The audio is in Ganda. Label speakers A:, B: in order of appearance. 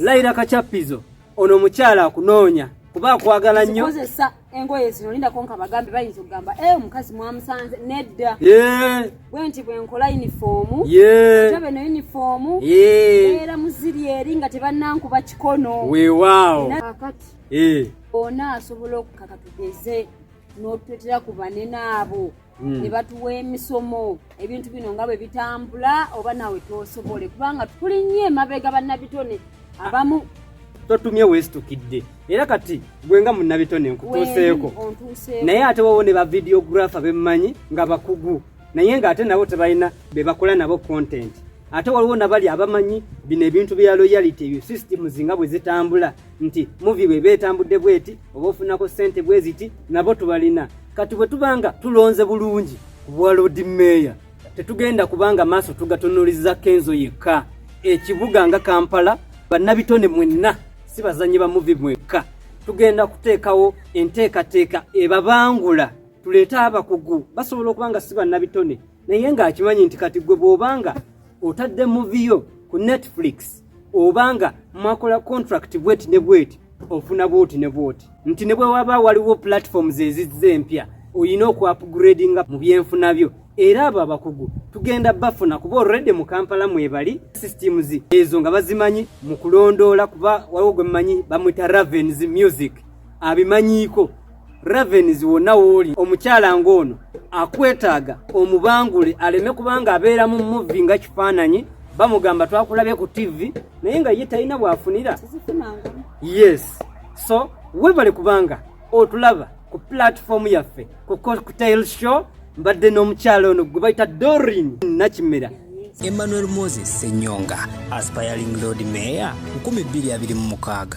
A: Laira Kachapizo ono omukyala akunoonya kuba akwagala nnyo kozesa engoye
B: zino linda konka bagambe bayinza okugamba e omukazi mwamusanze nedda bwe nti bwenkola yunifoomu ate beno yunifoomu era muziri eri nga tebannankuba kikono weewaawo
A: kakati
B: ona asobola okukaka tugeze n'otwetera ku banene abo hmm. ne batuwa emisomo ebintu bino nga bwe bitambula oba nawe tosobole kubanga tuli nnyo emabega bannabitone abamu totumye
A: weesitukidde era kati gwe nga munnabitone nkutuuseeko naye ate wowo ne bavidiographer bemmanyi nga bakugu naye ng'ate nabo tebalina be bakola nabo content ate waliwo nabali abamanyi bino ebintu bya loyality ebyo systems nga bwe zitambula nti muvi bweba etambudde bweti oba ofunako sente bweziti nabo tubalina kati bwe tubanga tulonze bulungi ku bwa lodi meeya tetugenda kubanga maaso tugatunuliza kenzo yekka ekibuga nga kampala bannabitone mwenna si bazanyi ba muvi mwekka tugenda kuteekawo enteekateeka ebabangula tuleete abakugu basobola okuba nga si bannabitone naye ng'akimanyi nti kati gwe bw'obanga otadde muviyo ku netflix obanga mwakola contract bweti ne bweti ofuna bwoti ne bwoti nti ne bwe waba waliwo platforms ezizza empya olina okuapgradinga mu byenfuna byo era abo abakugu tugenda bafuna kuba olredde mu kampala mwebali systems ezo nga bazimanyi mu kulondoola kuba waliwo gwe mumanyi bamwita ravens music abimanyiiko Ravens wonna wooli omukyala ng'ono akwetaaga omubangule aleme kubanga abeera mu muvi nga kifaananyi bamugamba twakulabye ku tivi naye nga ye talina bwafunira yes so webale kubanga otulaba ku pulatifomu yaffe ku cocktail show mbadde n'omukyala ono gwe bayita dorin nakimera emmanuel
C: moses senyonga aspiring lord mayor 226